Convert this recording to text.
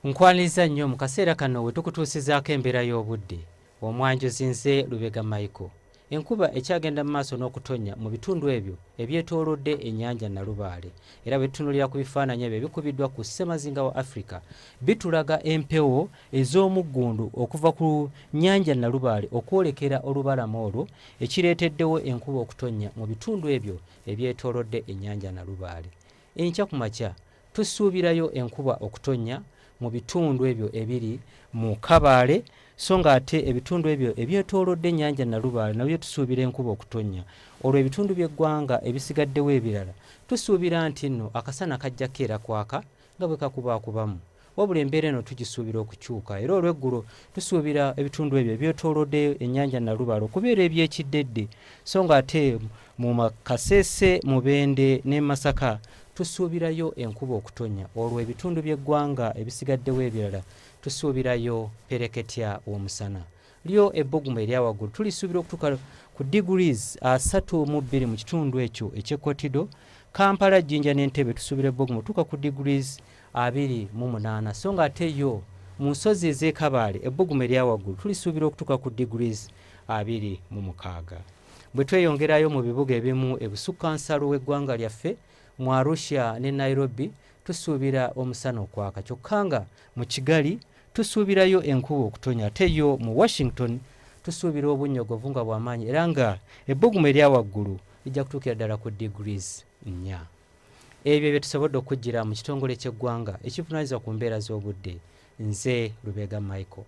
nkwaniriza nnyo mu kaseera kano we tukutuusizaako embeera y'obudde omwanjuzi nze lubega michael enkuba ekyagenda mu maaso n'okutonnya mu bitundu ebyo ebyetoolodde ennyanja nalubaale era bwe tutunulira ku bifaananyi ebyo ebikubiddwa ku ssemazinga wa afrika bitulaga empewo ez'omuggundu okuva ku nnyanja nalubaale okwolekera olubalama olwo ekireeteddewo enkuba okutonnya mu bitundu ebyo ebyetoolodde ennyanja nalubaale enkya ku makya Tusuubirayo enkuba okutonnya mu bitundu ebyo ebiri mu Kabaale so ng'ate ebitundu ebyo ebyetoolodde ennyanja Nalubaale nabyo tusuubira enkuba okutonnya olwo ebitundu by'eggwanga ebisigaddewo ebirala tusuubira nti nno akasana kajja keera kwaka nga bwe kakubaakubamu wabula embeera eno tugisuubira okukyuka era olweggulo tusuubira ebitundu ebyo ebyetoolodde ennyanja Nalubaale okubeera ebyekiddedde so nga ate mu Kasese Mubende ne Masaka tusuubirayo enkuba okutonya olwo ebitundu by'eggwanga ebisigaddewo ebirala tusuubirayo pereketya w'omusana lyo ebbugumu erya waggulu tulisuubira okutuuka ku degrees asatu mu bbiri mu kitundu ekyo ekyekotido kampala jjinja n'entebe tusuubira ebbugumu tuuka ku degrees abiri mu munaana so nga ate yo mu nsozi ez'ekabaale ebbugumu erya waggulu tulisuubira okutuuka ku degrees abiri mu mukaaga bwe tweyongerayo mu bibuga ebimu ebusukka nsalo w'eggwanga lyaffe mu arusha ne nairobi tusuubira omusana okwaka kyokka nga mu kigali tusuubirayo enkuba okutonya ate yo mu washington tusuubira obunnyogovu nga bwamaanyi era nga ebbugumu erya waggulu lijja kutuukira ddala ku degrees nnya ebyo bye tusobodde okujjira mu kitongole ky'eggwanga ekivunaanyizibwa ku mbeera z'obudde nze lubega michael